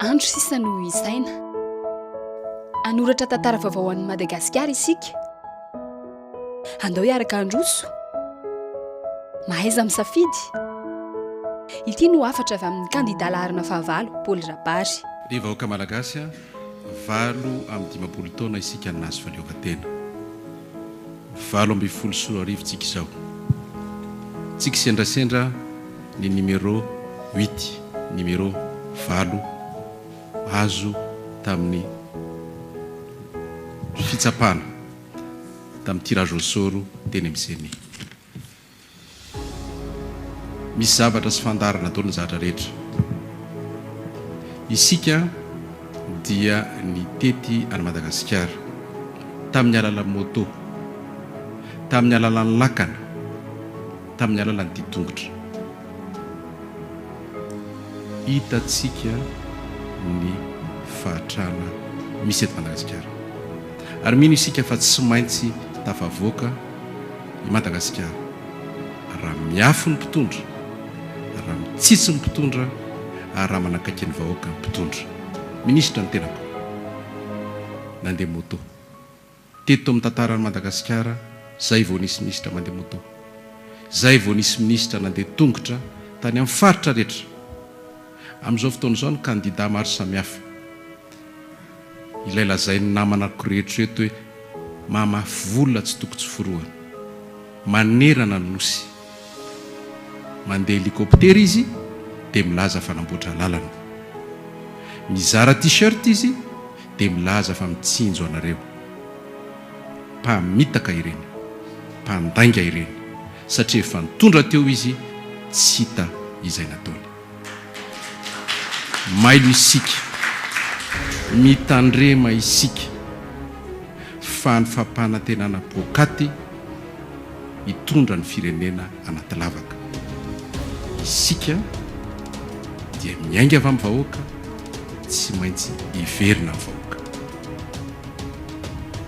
Andro sisa no ho isaina. Hanoratra tantara vaovao ho an'i Madagasikara isika. Andao hiaraka handroso. Mahaiza misafidy. Ity no hafatra avy amin'ny kandida laharana fahavalo, Paoly Rabary. Ry vahoaka Malagasy a! Valo amby dimampolo taona isika no nahazo fahaleovantena. Valo ambin'ny folo sy roa arivo tsika izao. Tsy kisendrasendra ny numéro huit, numéro valo, azo tamin'ny fitsapana tamin'ny tirage au sort teny amin'ny Ceni. Misy zavatra sy fandaharana ataon'ny zatra rehetra. Isika dia nitety an'i Madagasikara tamin'ny alalan'ny moto, tamin'ny alalan'ny lakana, tamin'ny alalan'ny ditongotra. Hitantsika ny fahatrana misy eto Madagasikara. Ary mino isika fa tsy maintsy tafavoaka. i Madagasikara. Raha miafy ny mpitondra, raha mitsitsy ny mpitondra ary raha manakaiky ny vahoaka ny mpitondra. Minisitra ny tenako. Nandeha moto. Teto amin'ny tantaran'i Madagasikara, izay vao nisy minisitra mandeha moto. Izay vao nisy minisitra nandeha tongotra tany amin'ny faritra rehetra. Amin'izao fotoana izao ny kandida maro samihafa. Ilay lazain'ny namanako rehetra eto hoe mahamafy vola tsy toko tsy forohana. Manerana ny Nosy. Mandeha helikoptera izy dia milaza fa namboatra lalana. Mizara t-shirt izy dia milaza fa mitsinjo anareo. Mpamitaka ireny. Mpandainga ireny. Satria efa nitondra teo izy tsy hita izay nataony. Mailo isika, mitandrema isika fa ny fampanantenana poakaty hitondra ny firenena anaty lavaka. Isika dia miainga avy amin'ny vahoaka, tsy maintsy hiverina amin'ny vahoaka.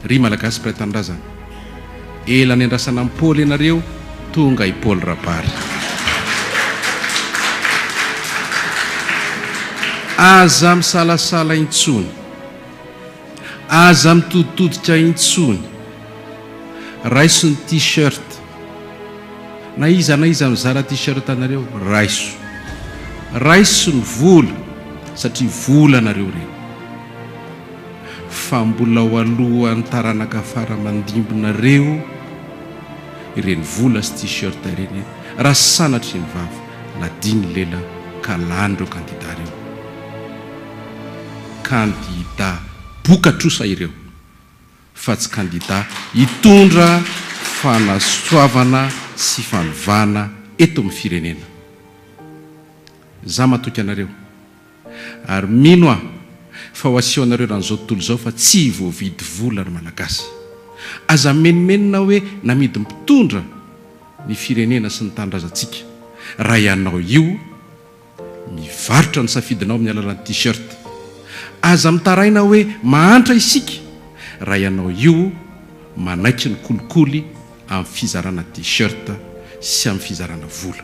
Ry Malagasy mpiray tanindrazana, Ela niandrasana an'i Paoly ianareo, tonga i Paoly Rabary. Aza misalasala intsony. Aza mitoditodika intsony. Raiso ny t-shirt. Na iza na iza mizara t-shirt anareo, raiso. Raiso ny vola, satria vola anareo ireny. fa mbola ao alohan'ny taranaka fara aman-dimbinareo ireny vola sy t-shirt ireny e! Raha sanatria ny vava nadin'ny lela ka lanin'ireo kandida ireo. Kandida boka trosa ireo fa tsy kandida hitondra fanasoavana sy fanovana eto amin'ny firenena. Za matoky anareo. Ary mino aho fa ho asehonareo eran' izao tontolo izao fa tsy voavidy vola ny Malagasy. Aza mimenomenona hoe namidy mpitondra ny firenena sy ny tanindrazantsika. Raha ianao io mivarotra ny safidinao amin'ny alalan'ny T-shirt. Aza mitaraina hoe mahantra isika raha ianao io manaiky ny kolikoly amin'ny fizarana T-shirt sy amin'ny fizarana vola.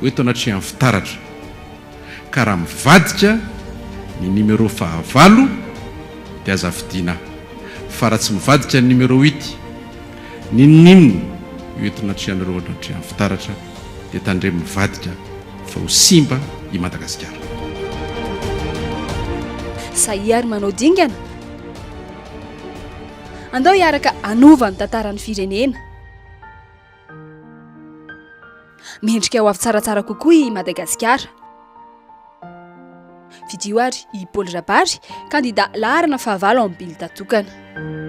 Ho eto anatrehan'ny fitaratra ka raha mivadika ny numéro fahavalo dia aza fidiana fa raha tsy mivadika ny numéro huit n'inon'inona io eto anatrehanareo anatrehan'ny fitaratra dia tandremo mivadika fa ho simba i Madagasikara. Sahia ary manao dingana? Andao hiaraka hanova ny tantaran'ny firenena. Mendrika ho avy tsaratsara kokoa i Madagasikara. Fidio ary i Paoly Rabary, kandida laharana fahavalo ao amin'ny bilda tokana.